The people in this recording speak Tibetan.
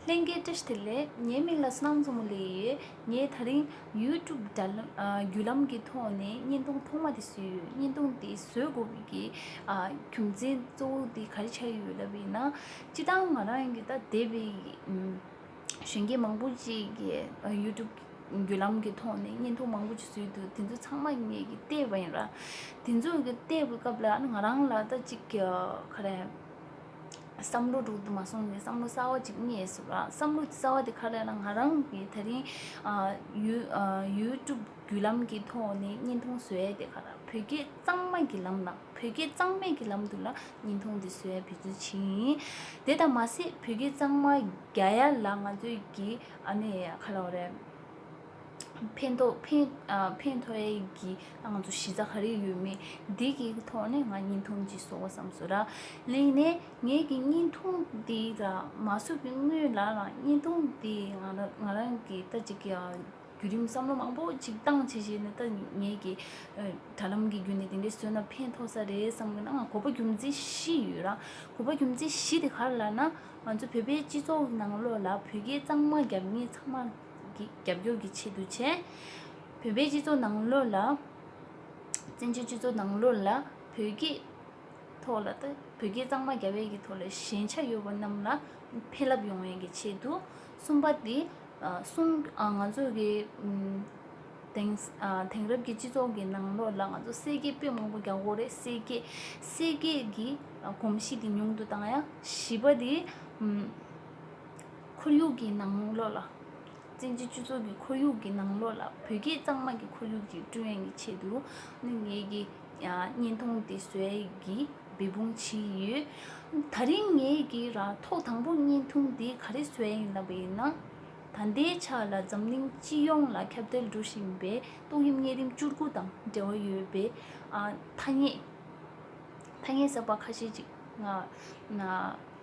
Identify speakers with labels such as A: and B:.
A: ལྷན་སྐྱེས་བཀྲ་ཤིས་ལེགས་ངའི་མིང་ལ་སྣང་མཛོ་མོ་ལེགས་ཡོད་ངས་ད་རིང YouTube བརྒྱུད་ལམ་གྱི་ཐོག་ནས་བརྙན་ཐུང་ཐོག་མ་དེ་བཟོས་ཡོད་བརྙན་ཐུང་དེ་བཟོས་དགོས་པའི་རྒྱུ་མཚན་གཙོ་བོ་དེ་ག་རེ་བྱས་ཡོད་ལབ་པས་ན་སྤྱིར་བཏང་ང་རང་གིས་ད་དེ་བས་གཞོན་སྐྱེས་མང་པོ་ཅིག་གི YouTube བརྒྱུད་ལམ་གྱི་ཐོག་ནས་བརྙན་ཐུང་མང་པོ་ཅིག་བཟོས་འདུག་དེ་ཚོ་ཚང་མ་ངས་ཀྱིས་བལྟས་པ་ཡིན་ར་དེ་ཚོ་གི་བལྟས་པའི་སྐབས་ལ་ང་རང་ལ་ད་ཅིག་ག་རེ་བསམ་བློ་དྲུག་ཏུ་མ་སོང་ནས་བསམ་བློ་གསར་བ་གཅིག་རྙེད་སོང་ལ་བསམ་བློ་གསར་བ་དེ་ག་ལ་ཡིན་ན་ང་རང་གི་ད་རིང YouTube བརྒྱུད་ལམ་གྱི་ཐོག་ནས་བརྙན་ཐུང་བཟོས་ཡས་དེ་ག་ལ་བོད་སྐད་གཙང་མ་གྱི་ལམ་ལ་བོད་སྐད་གཙང་མའི་གྱི་ལམ་དུ་ལ་བརྙན་ཐུང་དེ་བཟོས་ཡས་བུད་ཚུལ་བྱིན་ཡིན་དེ་དང་མ་ཟད་བོད་སྐད་གཙང་མ་རྒྱ་ཡས་ལ་ང་ཚོས་གྱི་ཨ་ནེ་ག་ལ་བ་རེད། ཕན་ཐོགས་ཕན་ཕན་ཐོགས་ཡས་ཀྱི་ཨང་དུ་ཞི་ཚགས་རིགས་ཡོད་མེད་འདི་གའི་ཐོག་ནས་ང་གཉིས་འཐུང་གྱི་སོ་བསམ་སོ་ར་གླིང་ནས་ངའི་གི་གཉིས་འཐུང་དེ་ལ་མ་སུ་གི་དངུལ་ལ་ལ་གཉིས་འཐུང་དེ་ང་རང་ང་རང་གི་ལྟ་ཅི་གི་རྒྱུད་རིམ་བསམ་བློ་མང་པོ་ཅིག་བཏང་ཆེ་ཆེ་ནི་ལྟ་ངའི་གི་དྲ་ལམ་གི་རྒྱུད་ནས་དེ་འདྲའི་བསོད་ནམས་ཕན་ཐོགས་ས་རེད་བསམ་གི་ན་ང་གོ་པ་རྒྱུ་མཚན་བཞི་ཡོད་ར་གོ་པ་རྒྱུ་མཚན་བཞི་དེ་ག་རེ་ལ་ན་ང་ཚོ་བོད་པའི་སྤྱི་ཚོགས་ནང་ལོགས་ལ་བོད་སྐད་གཙང་མ་རྒྱབ་ངེས་ཚང་མ་རྒྱབ་སྐྱོར་གྱི་ཆེད་དུ་བྱས། བོད་པའི་སྤྱི་ཚོགས་ནང་ལོགས་ལ། བཙན་བྱོལ་སྤྱི་ཚོགས་ནང་ལོགས་ལ་བོད་སྐད་ཐོག་ལ་དང་བོད་སྐད་གཙང་མ་རྒྱ་བལ་གྱི་ཐོག་ལ་ཞན་ཆ་ཡོད་པ་རྣམས་ལ་ཕན་རླབས་ཡོང་བའི་ཆེད་དུ་གསུངས་པ་དེ་གསུང་ང་ཚོ་གི་དེང་དེང་རབས་ཀྱི་སྤྱི་ཚོགས་ཀྱི་ནང་ལོགས་ལ་ང་ཚོ་གསེར་སྐྱེས་དཔོན་མང་པོ་རྒྱ་སྒོར་རེད་གསེར་སྐྱེས་གསེར་སྐྱེས་ཀྱི་གོམས་གཤིས་དེ་ཉུང་དུ་བཏང་ཡང་བྱིས་པ་དེ་ཁོར་ཡུག་གི་ནང་ལོགས་ལ། བཙན་གྱིས་སྤྱི་ཚོགས་ཀྱི་ཁོར་ཡུག་གི་ནང་ལོགས་ལ་བོད་སྐད་གཙང་མ་གྱི་ཁོར་ཡུག་ཅིག་བསྐྲུན་ཡོང་བའི་ཆེད་དུ། ངེད་ཀྱི་བརྙན་ཐུང་དེ་བཟོས་ཀྱིས་འབད་འབུངས་བྱས་ཡོད། ད་རིང་ངེད་ཀྱིས་རང་ཐོག་དང་པོར་བརྙན་ཐུང་དེ་ག་རེ་བཟོས་ཡིན་ལབ་པ་ཡིན་ན། ད་ལྟའི་ཆ་ལ་འཛམ་གླིང་སྤྱི་ཡོངས་ལ་ཁྱབ་གདལ་འགྲོ་བཞིན་པའི་ཏོག་དབྱིབས་གཉན་རིམས་བཅུ་དགུ་དང་འབྲེལ་བ་ཡོད་པའི་ཐ་སྙད་གསར་པ་ཁ་ཤས་ཅིག་ང